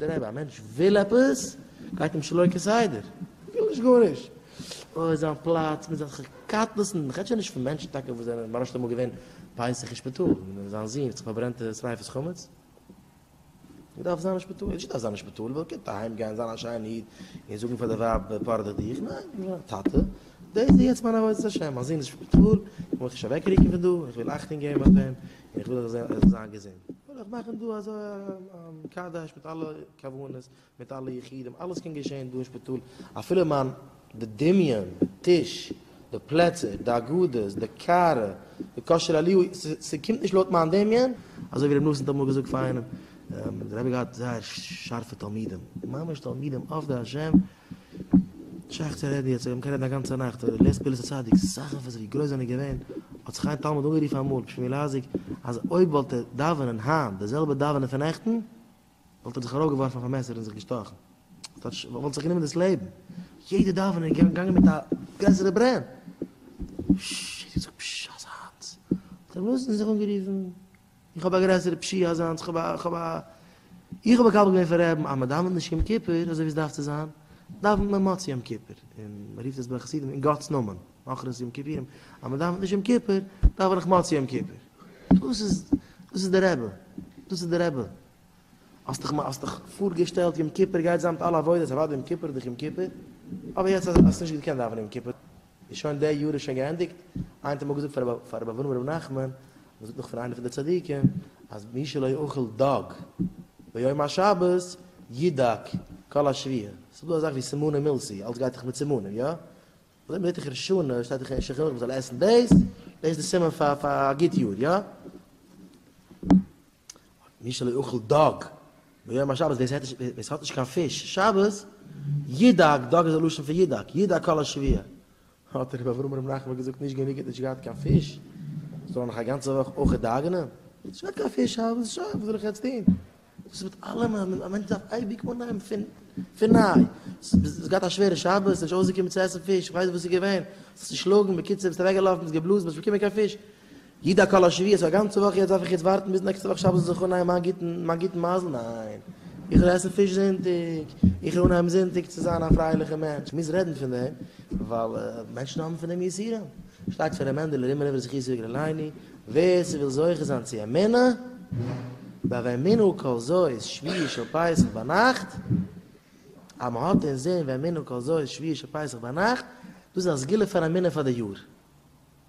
דערהייב, א מענטש וויל עפעס, גייט אים שלא כסדר, וויל נישט גארנישט, אוי זיין פלאץ מיט אזעלכע קטנות'ן, איך רעד שוין נישט פון מענטשן טאקע וואס זענען ממש נישט אמאל געווען פסח אין שפיטאל, ווי זיין זון האט זיך פארברענט די שריפת חמץ, ער דארף זיין אין שפיטאל, נישט ער דארף זיין אין שפיטאל, ער קען אהיים גיין זיין א שיינע איד, און זאגן פאר די ווייב פארדעך דיך, ניין, א טאטע, דאס איז יעצט מיין עבודת השם, מיין זון איז אין שפיטאל, איך מוז נישט אוועקרוקן פון דא, איך וויל אכטונג געבן אויף אים, איך וויל איך זאל זיין געזונט, וויל איך מאכן דא אזוי א קאדעש מיט אלע כוונות, מיט אלע יחידים, אלעס קען געשען דא אין שפיטאל, אפילו מיין די דמיון, די טיש, די פלעצער, די הגדות, די קאר, די כשר אליהו, ס'קומט נישט לויט מיין דמיון, אזוי ווי רבי נתן האט אמאל געזאגט פאר איינעם, דער רבי האט געהאט זייער שארפע תלמידים, ממש תלמידים עובדי השם, שייך צו רעדן יעצט, מ'קען רעדן א גאנצע נאכט, אבער לעז פעילעס הצדיק, סאך אויף זיך ווי גרויס זענען געווען, האט זיך איין תלמיד אנגערופן אמאל, בשמו לעזיק, אז אויב וואלט ער דאווענען היינט די זעלבע דאווענען פון נעכטן, וואלט ער זיך ארויפגעווארפן אויף א מעסער און זיך געשטאכן. ס'טייטש, וואלט זיך גענומען דאס לעבן. יעדע דאווענען איז געגאנגען מיט א גרעסערע ברען. פשש, האט ער געזאגט, פשש, אזאנס. האט רבי נתן זיך אנגערופן. איך האב א גרעסערע פשיעה אזאנס, איך האב א. איך האב מקבל געווען פון רעבן אז מען דאווענט נישט יום כיפור אזוי ווי עס דארף צו זיין, דאווענט מען מוצאי יום כיפור, און מען רופט עס ביי די חסידים אין גאט'ס נאמען, אחרית יום כיפורים, אז מען דאווענט נישט יום כיפור, דאווען איך מוצאי יום כיפור. דאס איז, דאס איז די רבי, דאס איז די רבי. האסט דיך, האסט דיך פארגעשטעלט יום כיפור גייט זיין מיט אלע עבודות, אוודאי יום כיפור איז דאך יום כיפור, אבער יעצט האסטו נישט געקענט דאווענען יום כיפור, איז שוין די יאר איז שוין געענדיגט, איין טעם האב געזאגט פאר רבי פאר רבי אברהם רבי נחמן, מען זאגט נאך פון איינע פון די צדיקים, אז מי שלא יאכל דג ביום השבת ידג כל השביעה, ס'איז דא אזאך ווי סימנים מילסי, אלץ גייט דאך מיט סימנים, יא? אזוי מיט די תיכף שנה, שטייט דאך אין שולחן ערוך מען זאל עסן דאס, דאס איז די סימן פאר פאר א גוט יאר, יא? מי שלא יאכל דג ביום השבת ווער עס עסט ווער עס האט נישט קיין פיש שבת, ידאג, דג איז א לשון פון ידאג, ידאג כל השביה, האט רבי אברהם ר' נחמן געזאגט נישט גענוג ער האט נישט געהאט קיין פיש, זאל ער נאך א גאנצע וואך אויך דאגה'נען? איך האב נישט געהאט קיין פיש שבת, שוין וואס זאל איך יעצט טון? דאס איז מיט אלעם, א מענטש דארף אייביג אנהייבן פון פון ניי, האסט געהאט א שווערע שבת, ביסט נישט אויסגעקומען צו עסן פיש, איך ווייס נישט וואס איז געווען, האסט זיך צושלאגן, בקיצור ביסט אוועקגעלאפן, ביסט געבלאזן, ביסט נישט געקומען קיין פיש, איד א כלה שביעית פאר גאנצע וואך יעצט דארף איך יעצט ווארטן ביז נעקסטע וואך שבת זיך אנהייבן מיין גוטן מיין גוטן מזל ניין איך וועל עסן פיש זונטאג איך וועל אנהייבן זונטאג צו זיין א פרייליכע מענטש איך מוז רעדן פון דעם ווייל מענטשן האבן פון דעם יסורים שטייט פון ר' מענדעלע רימער אויף זכות יג ר' לייני ווער ס'וויל זוכה זיין צו אמונה באמינא כל זו איז שביעי של פסח ביינאכט אז מ'האט אינזין ואמינא כל זו איז שביעי של פסח ביינאכט דאס איז א סגולה פאר אמונה פאר די יאר.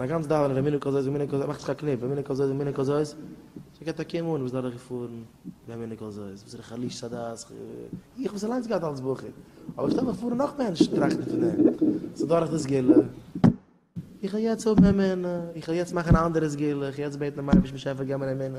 מיין גאנץ דאווענען ווען מנין כזאת ומנין כזאת מאכט זיך א קניפ, ווען מנין כזאת ומנין כזאת, שוין קענט א קום אן וואס דורך געפארן ווען מנין כזאת, וואס איז דער חליש'ס א דעת ח ו, איך וואס אליינס געהאט אלץ בחור, אבער איך שטעל מיך פאר און נאך מענטשן טראכטן פון דעם, ס'איז דורך די סגולה, איך וועל יעצט האבן אמונה, איך וועל יעצט מאכן א אנדערע סגולה, איך וועל יעצט בעטן דעם אייבערשטן באשעפער געב מיר אמונה.